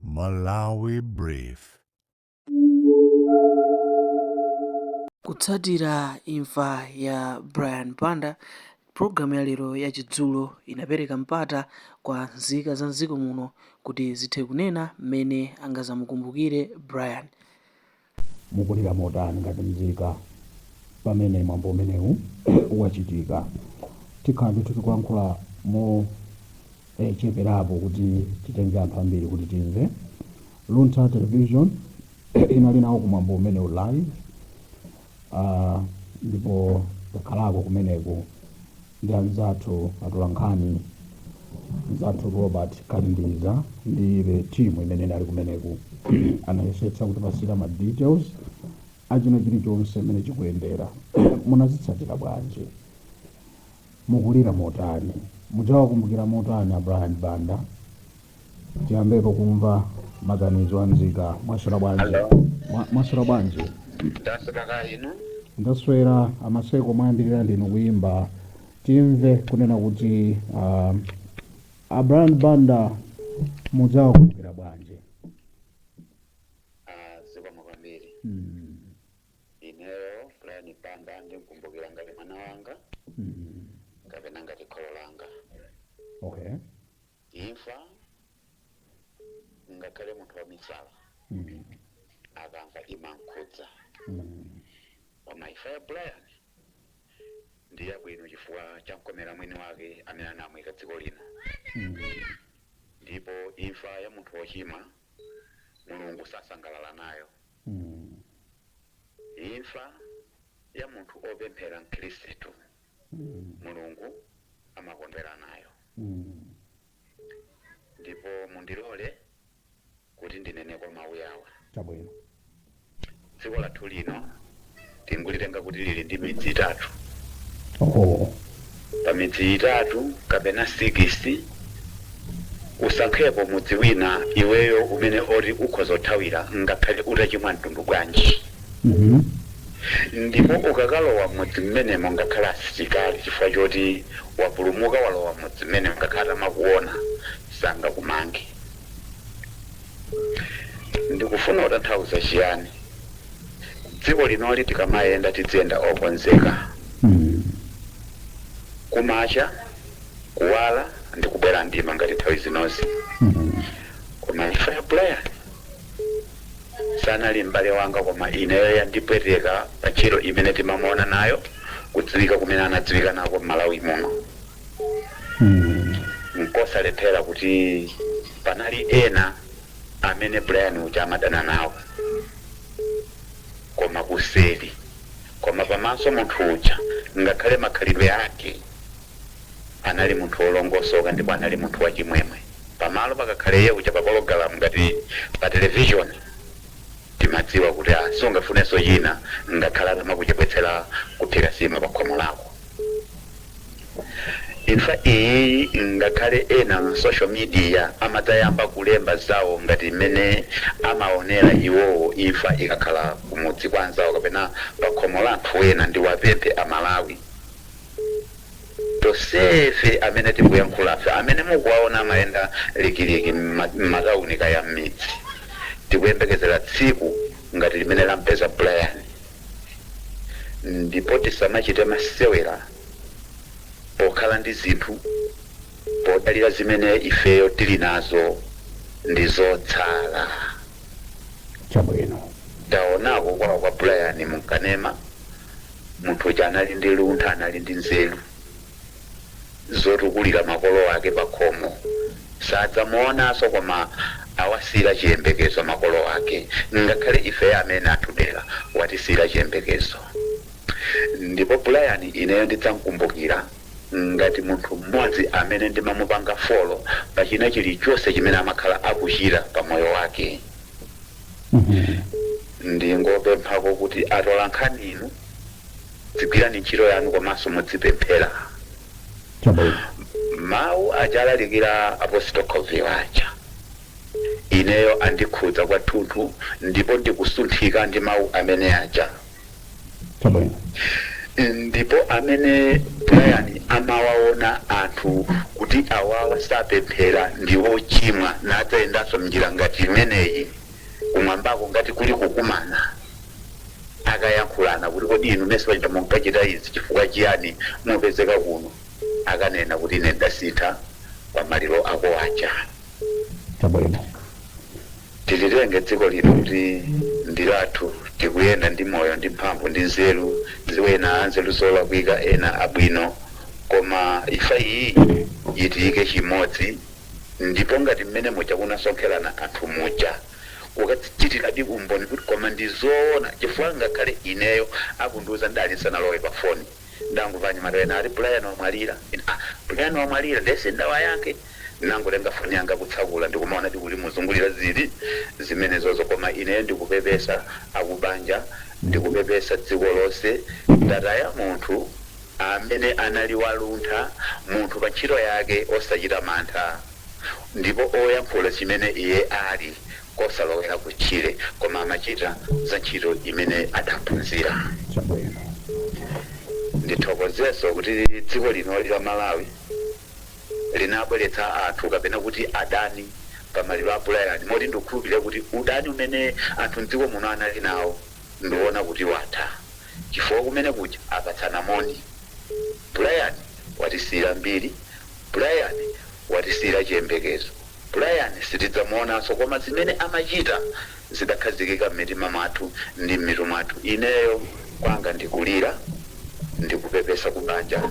Malawi Brief. Kutsatira imfa ya Brian Banda, pulogalamu ya lero ya Chidzulo inapereka mpata kwa nzika za m'dziko muno kuti zithe kunena mmene angazamukumbukire Brian. Mukulira motani ngati mzika pamene mwambo umenewu wachitika? Tikhala ndithu tikulankhula mocheperapo kuti titenge anthu ambiri kuti timve. Luntha Television inali nawo ku mwambo umenewu live ndipo takhalako kumeneko. ndi anzathu atolankhani mzathu robert kalindiza ndi the team imene inali kumeneko anayesetsa kutipasira ma details achina chilichonse mmene chikuyendera munazitsatira bwanji mukulira motani mudzawakumbukira motani a brian banda tiyambepo kumva maganizo a mzika mwaswera bwanji Hello. Mwa- mwaswera bwanji Ndaswera kaya inu. ndaswera amaseko mwayambirira ndinu kuyimba timve kunena kuti uh, a Brian Banda mudzawakumbukira bwanji Ah, zikomo kwambiri. mm, Ineyo Brian Banda ndimukumbukira ngati mwana wanga mm, kapena ngati kholo langa. okay Imfa, ngakhale munthu wamisala akamva imamkhudza. Koma imfa ya Brian ndi yabwino chifukwa chamkomera mwini wake amene anamuika dziko lino. Ndipo imfa ya munthu wochimwa Mulungu sasangalala nayo. Imfa ya munthu opemphera Mkhristu mulungu amakondwera nayo ndipo mundilole kuti ndineneko mawu yawa chabwino dziko lathu lino tingulitenga kuti lili ndi midzi itatu oh. pa midzi itatu kapena sikisi Usankhepo mudzi wina iweyo umene oti ukhoza kuthawira ngakhale utachimwa mtundu wanji ndipo ukakalowa mmudzi mmenemo ngakhale asilikali chifukwa choti wapulumuka walowa mmudzi mmenemo ngakhale atamakuona sangakumange. Ndikufuna kutanthauza chiyani? Dziko linoli tikamayenda tidziyenda okonzeka. Kumacha. kuwala ndi kubwera mdima ngati nthawi zinozi koma imfa ya brian sanali m'bale wanga koma ineyo yandipweteka pa ntchito imene timamuona nayo kudziwika kumene anadziwika nako m'malawi muno nkosalephera kuti panali ena amene brian uja amadana nawo koma kuseri koma pamaso munthu uja ngakhale makhalidwe ake Anali munthu wolongosoka ndipo anali munthu wachimwemwe. Pamalo pakakhala iye uja pa pologalamu ngati pa television timadziwa kuti ah sungafunenso china ngakhale atamakuchepetsera kuphika nsima pa khomo lako. Imfa iyi ngakhale ena mu social media amadzayamba kulemba zawo ngati mmene amaonera iwowo imfa ikakhala kumudzi kwa anzawo kapena pakhomo la anthu ena ndiwapemphe a Malawi, Tonsefe amene tikuyankhulafe, amene mukuwaona amayenda likiliki m'matawuni kaya m'midzi, tikuyembekezera tsiku ngati limene lam'peza Brian. Ndipo tisamachite masewera pokhala ndi zinthu, podalira zimene ifeyo tili nazo ndi zotsala. Taonako kwawo kwa Brian m'kanema. Munthu uja anali ndi luntha, anali ndi nzeru zotukulira makolo ake pakhomo. Sadzamuonanso koma awasiyira chiyembekezo makolo ake. Ngakhale ifeyo amene atudera watisiyira chiyembekezo. Ndipo Brian ineyo ndidzam'kumbukira ngati munthu mmodzi amene ndimamupanga follow pa china chilichonse chimene amakhala akuchita pa moyo wake. ndingopemphako kuti atolankhani inu dzigwirani ntchito yanu komanso mudzipemphera mawu aja alalikira apostol Coville aja ineyo andikhudza kwathunthu ndipo ndikusunthika ndi mawu amene aja ndipo amene brian amawaona anthu kuti awawa sapemphera ndi ochimwa akadzayendanso mnjira ngati imeneyi kumwambako ngati kuli kukumana akayankhulana kuti kodi inu mmesa paja munkachita izi chifukwa chiyani mupezeka kuno akanena kuti ine ndasintha pa maliro ako aja chabwino Tisalitenge dziko lino kuti ndi lathu, tikuyenda ndi moyo ndi mphamvu ndi nzeru, zina ena anzeru zolakwika ena abwino, koma imfa iyi itiike chimodzi ndipo ngati mmene muja kunasonkherana anthu muja kukachitiradi umboni kuti koma ndi zoona chifukwa ngakhale ineyo akundiuza ndinali ndisanalowe pa foni ndangomva anyamata ena ati Brian wamwalira ena ah Brian wamwalira ndiye sindawayankhe Ndinangotenga foni yanga kutsakula ndikumaona zikuzungulira zili zimenezozo koma ineyo ndikupepesa akubanja ndikupepesa dziko lonse lataya munthu amene anali waluntha munthu pa ntchito yake osachita mantha ndipo oyankhula chimene iye ali kosalowera kutchire koma amachita za ntchito imene adaphunzira. Ndithokozenso kuti dziko lino la Malawi. linabweretsa anthu kapena kuti adani pa maliro a Brian moti ndikukhulupirira kuti udani umene anthu mdziko muno anali nawo ndikuona kuti watha chifukwa kumene kuja apatsana moni. Brian watisiyira mbiri, Brian watisiyira chiyembekezo. Brian sitidzamuonanso koma zimene amachita zidakhazikika m'mitima mwathu ndi m'mitu mwathu. Ineyo kwanga ndi kulira ndi kupepesa ku banja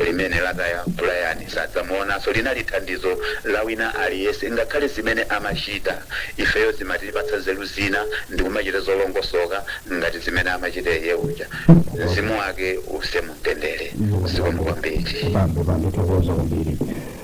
limene lataya Brian. Sadzamuonanso linali thandizo la wina aliyense. Ngakhale zimene amachita ifeyo zimatipatsa nzeru zina ndi kumachita zolongosoka ngati zimene amachita iye uja. Mzimu wake uuse mu mtendere. Zikomo kwambiri. Bambo, tathokoza kwambiri.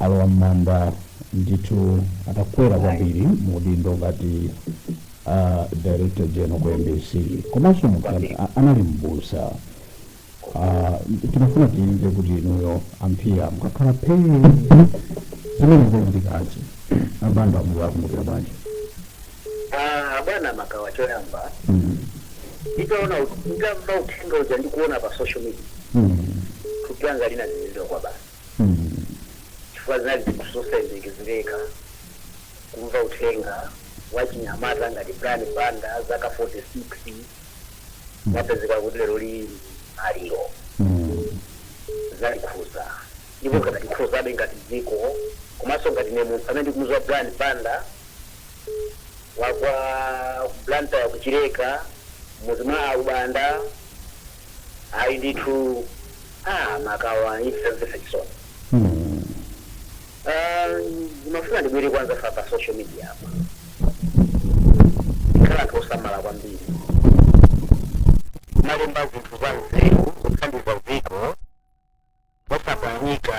alowa mmanda ndithu atakwera kwambiri mu udindo ngati uh, director general ku mbc komanso munthu an- a- anali mbusa uh, tinafuna timve kuti inuyo a Mpinga mukakhala phee zimene zikuchitikazi a Banda muwakumbukira bwanji Ah, bwana Makawa choyamba Mm, nditaona nditamva uthenga uja ndikuona pa social media mm, thupi langa linazizidwa kwabasi chifukwa zinali zinthu zosayembekezereka kumva uthenga wachinyamata ngati Brian Banda wa zaka 46 wapezeka kuti lero ali maliro zatikhudza ndipo zikutikhudzabe ngati dziko komanso ngati ine munthu amene ndikumudziwa Brian Banda wa ku Blantyre ku Chileka m'mudzi mwa Alubanda ayi ndithu a Makawa imfa yomvetsa chisoni Ah, ndimafuna ndibwere kwa anzathu a pa social media apa tikhale anthu osamala kwambiri kumalemba zinthu za nzeru kuthandiza dziko osaphwanyika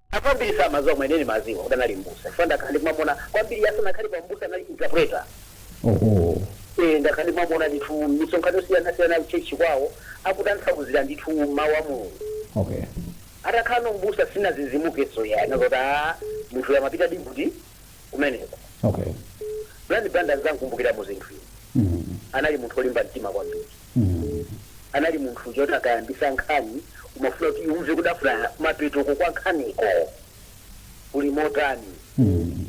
Anthu ambiri samaziwa koma ine ndimaziwa kuti anali m'busa chifukwa ndakhala ndikumamuona kwambiri asanakhalepo m'busa anali interpreter. Ohoo. Eeh ndakhala ndikumamuona ndithu misonkhano yosiyana siyana ku church kwawo akutanthauzira ndithu mau a Mulungu. Okay. Atakhalano m'busa sindinazizimukenso iyayi ndinaziwa kuti aah munthu uyu amapitadi kuti. kumeneko Okay. Brian Banda ndzamkumbukira mu zinthu izi Mm. anali munthu olimba mtima kwambiri Mm. anali munthu choti akayambisa nkhani umafuna kuti umve kudafuna mapetoko kwa nkhaniko kuli motani Mm.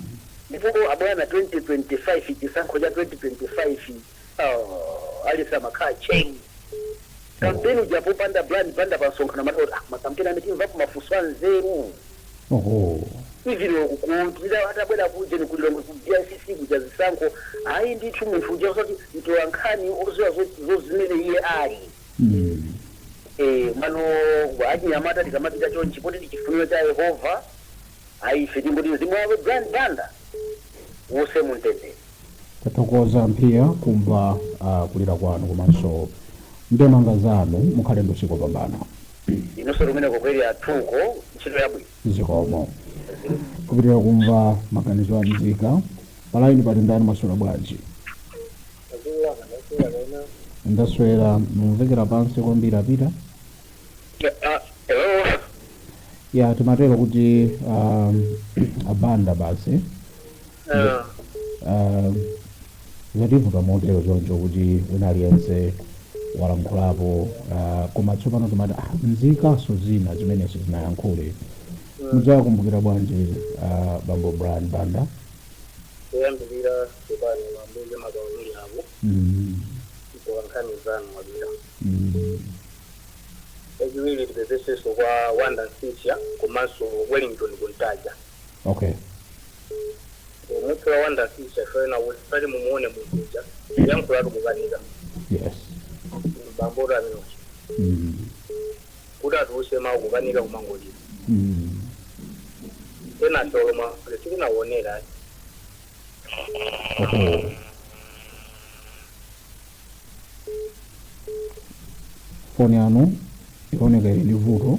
ndipo abwana 2025 chisankho cha 2025 Oh, aliyense amakhala tcheru. Kampeni uja popanda Brian Banda pa msonkhano amati oti ah, makampeni amene timvako mafunso a nzeru. Oho. Even uku kuntira atabwera kujeni ku Lilongwe ku BICC kuja zisankho ayi ndithu munthu uja osati mtola nkhani oziwa zo- zozimene iye ali. Mm. Eh, mano ife achinyamata tikamapita chonchi poti ndi chifuniro cha Yehova ayi ife tingoti mzimu wawo Brian Banda uuse mumtendere. Tathokoza Mphiya kumva ah, kulira kwanu komanso ndemanga zanu mukhale ndi usiku wopambana inunso kumeneko kweli zathu ntchito yabwino zikomo kupitira kumva maganizo a mzika palaini pali ndani maswera bwanji ndaswera mumvekera pansi kwambiri apita Ah, hello ya timatero kuti um, abanda basi Eh, Ah, zativuta motero choncho kuti wina aliyense walankhulapo ah, koma tsopano timati ah, nzikanso zina zimenezi zinayankhule mudzakumbukira bwanji ah, bambo brian banda kuyambirira chipani mambuzi makaonini ako Mm, kutoka nkhani zanu mabira mm, eziwiri tipepeseso kwa wanda nsisya komanso wellington kuntaja okay munthu wa wanda nsisya soena kuti pali mumuone munthu uja kuyankhulatu kukanika yes bambora amene uja mm. kuti atuluse mawu kukanika kumangolira Mm. ena solomwa kuti sikunawonera ayi Oh. foni yanu ikuoneka ili ndi vuto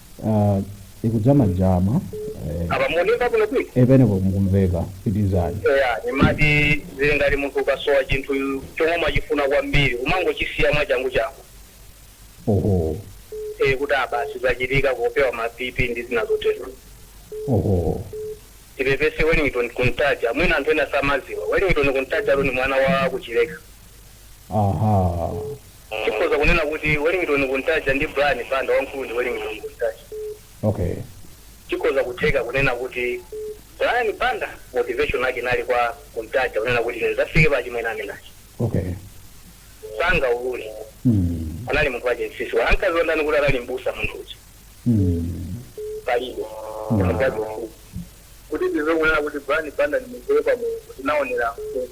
Ah, ikudza majama eh, apa mukumveka kuno kwini eh, penepo mukumveka pitizani eya nimati zili ngati munthu ukasowa chinthu chomwe umachifuna kwambiri umangochisiya mwachanguchangu oho e kuti abasi zachitika kupewa ma BP ndi zina zotero oho tipepese wellington kuntaja mwina anthu ena samaziwa wellington kuntaja alo ni mwana wa kuchileka aha Chikhoza kunena kuti Wellington Kuntaja ndi Brian Banda wamkulu ndi Wellington Kuntaja. Okay. Chikhoza kutheka kunena kuti Brian Banda motivation yake inali kwa Kuntaja kunena kuti ine ndidzafike pa achimwene amene aja. Okay. Sangaulule. Mm. Anali munthu wachete msisi. Ankaziwa ndani kuti anali mbusa munthu uja. Mm. Palibe. Mm. Munthu wache msisi. Kuti tizo kunena kuti Brian Banda ni munthu wepa munthu. Kuti naonera msisi.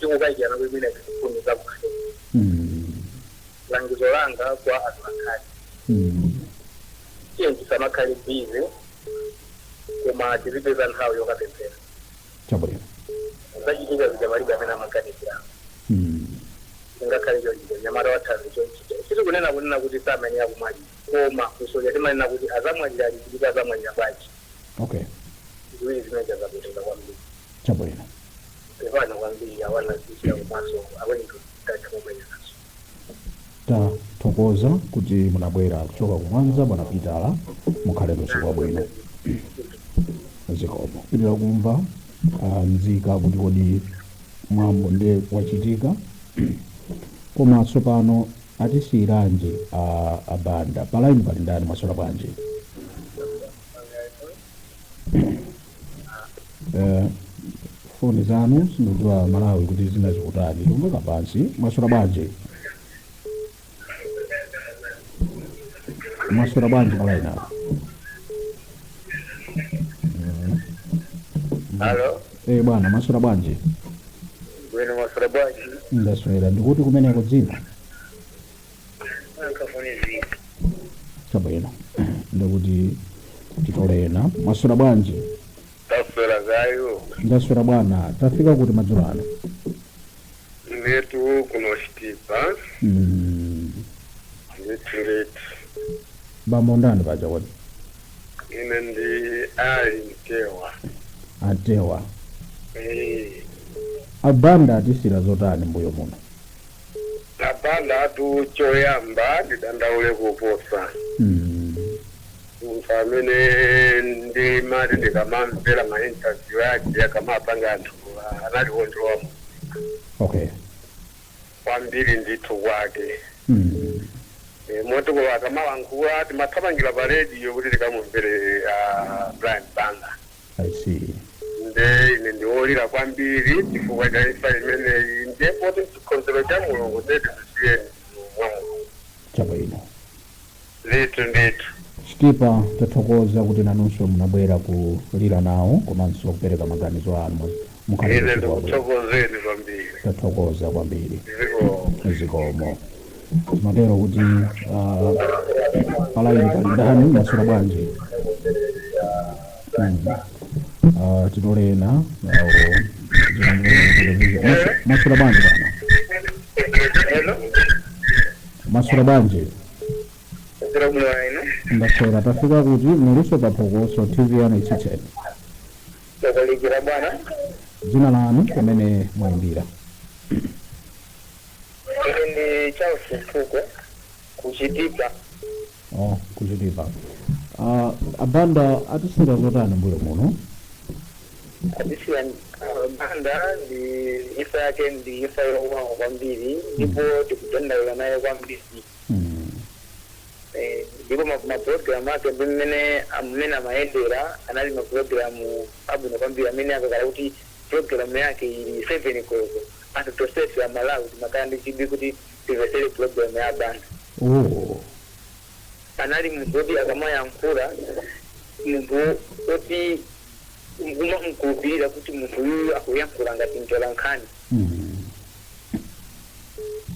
Tikukayikirana kuti mwina izi ziphungu za kufupi. Langizo langa kwa atolankhani, tiyeni tisamakhale busy koma tizipeza nthawi yokapemphera. Chabwino. Zachitika zija palibe amene amaganizira. Zingakhale chonchija, mnyamata wa thanzi chonchija. Sitikunena kunena kuti samayenera kumwalira. Koma funso lija timanena kuti azamwalira liti ndipo azamwalira bwanji? Okay. Ziwiri zimeneja zapweteka kwambiri. Chabwino. Pepani kwambiri awana zija komanso awendo tatha kumenya nazo. Tathokoza kuti munabwera kuchoka ku Mwanza bwana Pitala. Mukhale usiku wabwino. Zikomo. Pitirizani kumva ah, mzika kuti kodi mwambo nde wachitika koma tsopano atisiyiranji a abanda palaini pali ndani mwaswera bwanji Eh, foni zanu sindikudziwa malawi kuti zinazikutani tikumveka pansi mwaswera bwanji mwaswera bwanji palaini apo Halo, eh bwana mwaswera bwanji bwino mwaswera bwanji? ndaswera ndikuti kumeneko dzina chabwino ndikuti titole ena mwaswera bwanji taswera kaya ndaswera bwana tafika kuti madzulo ano inetu kuno Chitipa Mm, ndithu bambo ndani paja kodi ine ndi ali mtewa atewa Eh, abanda atisiira zotani mbuyo muno A Bandatu choyamba ndidandaule koposa munthu amene ndimati ndikamamvera ma interview ake akamapanga anthu ah, anali wondilowa mu okay kwambiri ndithu kwake Eh, moti kuti akamalankhula timathamangira pa radio kuti tikamumvere ah, Brian Banda I see. nde ine ndiwolira kwambiri chifukwa cha imfa imeneyi ndiye poti nchikonzero cha mulungu ndiye tizisiye mwa mulungu Chabwino. ndithu ndithu Chitipa tathokoza kuti nanunso munabwera kulira nawo komanso kupereka maganizo anu mu- mukhale ine zikomo. ndikuthokozeni kwambiri Tathokoza kwambiri. zikomo Zikomo. matero kuti ah, palaini pali ndani maswera bwanji Mm. Ah, titole ena awo maswera bwanji bwana Hello. maswera bwanji Zero bula ino. ndaswera tafika kuti muliso paphokoso tv yanu itsitseni Takulikira bwana. dzina lanu komwe mwayimbira Ine ndi Charles Mfuko ku Chitipa. Oh, kuchitipa. Ah, abanda atisira zotani mbuyo muno? Atisiya uh, banda ndi imfa yake ndi imfa yowawa kwambiri ndipo tikudandaula nayo kwambiri Mm. Eh, ndipo ma- mapulogalamu ake mmene amene amayendera anali mapulogalamu abwino kwambiri amene akakhala kuti pulogalamu yake ili seven koloko Anthu tonsefe a Malawi timakhala ndi chidwi kuti timvetsere program ya Banda. Ooh. Anali munthu woti akamayankhura munthu woti kumamukhulupilira kuti munthu uyuyu akuyankhura ngati mtola nkhani. Mm.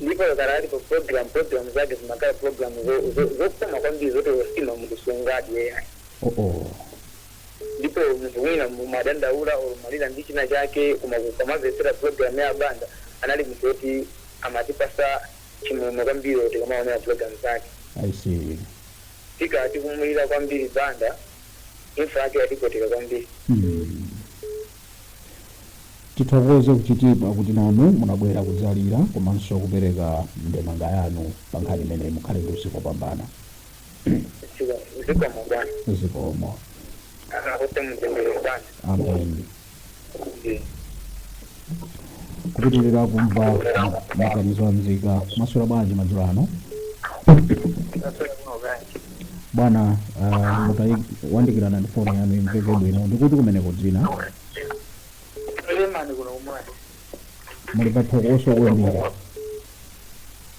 Ndipo akakhala ali pa program program zake zimakhala program zo zo zokoma kwambiri zoti or nsima munthu sungadye ayi. Ooh. Ndipo munthu mwina mumadandaula or mumalira ndi china chake koma ukamamvetsera program ya abanda anali munthu woti amatipasa chimwemwe kwambiri or tikamaonera program zake. I see. Tika tikumulira kwambiri Banda imfa yake yatipweteka kwambiri. Hmm. Tithokoze ku Chitipa kuti nanu munabwera kudzalira komanso kupereka ndemanga yanu pa nkhani imeneyi. Mukhale ndi usiku wopambana. zikomo bwana zikomo kuti mutendere bwana ameni kupitirira kumva maganizo a mzika maswera bwanji madzulo ano bwana ah, mutayandikirana ndi foni yanu imveke bwino ndikuti kumeneko dzina lemani kuno kumwana muli paphokoso kwambiri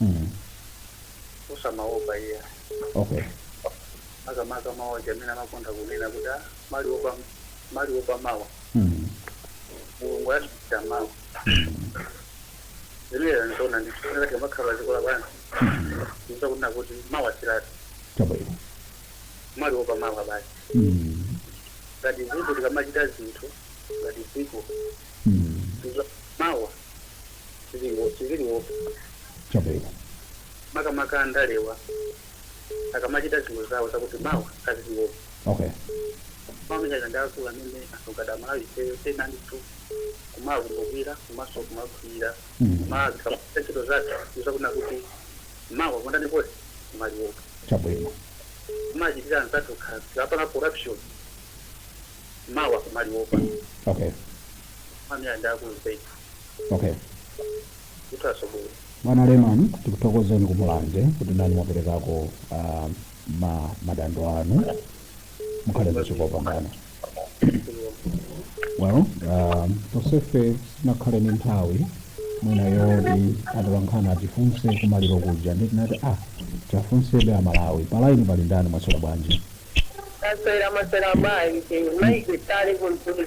Mm. osamaopa iya Okay. makamaka mawu aja amene amakonda kunena kuti "Ah, maliwopa maliwopa mawa Mm. mulungu anachita mawa zimene ndizona ndikuona kuti makhala dziko lapansi Mm. ndikuza kunena kuti mawa silathu Chabwino. maliwopa mawa basi Mm. ngati dziko tikamachita zinthu ngati dziko Mm. ndikuza mawa ziliwo siziliwo chabwino makamaka andalewa akamachita zinthu zawo zakuti mawa aziliwo okay pamene ndakwiya amene asogada malawi ifeyo tenanitu kumawakumbukira komanso kumakhulira Mm. koma zikamuta ntchito zathu zakuna kuti mawa kundani poti kumaliwo chabwino kumachitira anzathu khazi lapana corruption mawa kumaliwopa okay amene andakulu zedi okay kuthaso bwino bwana leman tikuthokozeni kumulanje kuti nanu mwaperekako uh, ma, madando anu mukhale ndi usiku wopambana well um, tosefe sinakhale ni nthawi mwina yoti atolankhani atifunse kumaliro kuja ndiye tinati ah tiafunsebe amalawi palaini pali ndani mwaswera bwanji asera masera mayi mayi kwitale kunzuli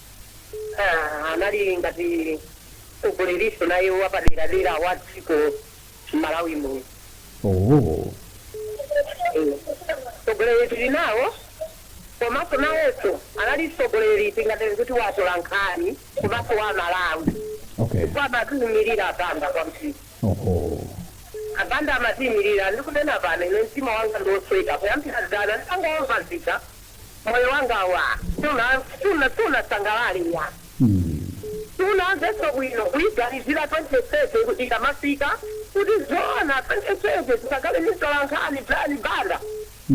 Ha, anali ngati mtsogolerinso naye wapaderadera wa dziko la Malawi muno. Ooo. Mtsogoleri tili nawo komanso nayenso anali mtsogoleri tinganene kuti wa atolankhani komanso wa Amalawi Okay. chifukwa amatiimirira a Banda kwambiri. Oho. A Banda amatiimirira. Ndikunena pano ine mtima wanga ndi wosweka kuyambira dzana nditangomva zija moyo wanga wa suna suna sunasangalale iya sunamveso bwino kuyiganizira 2030 kuti ikamafika kuti zoona 2030 tikakhale ndi mtolankhani Brian Banda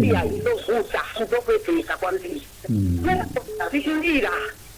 iya izovuta izopweteka kwambiri zikundira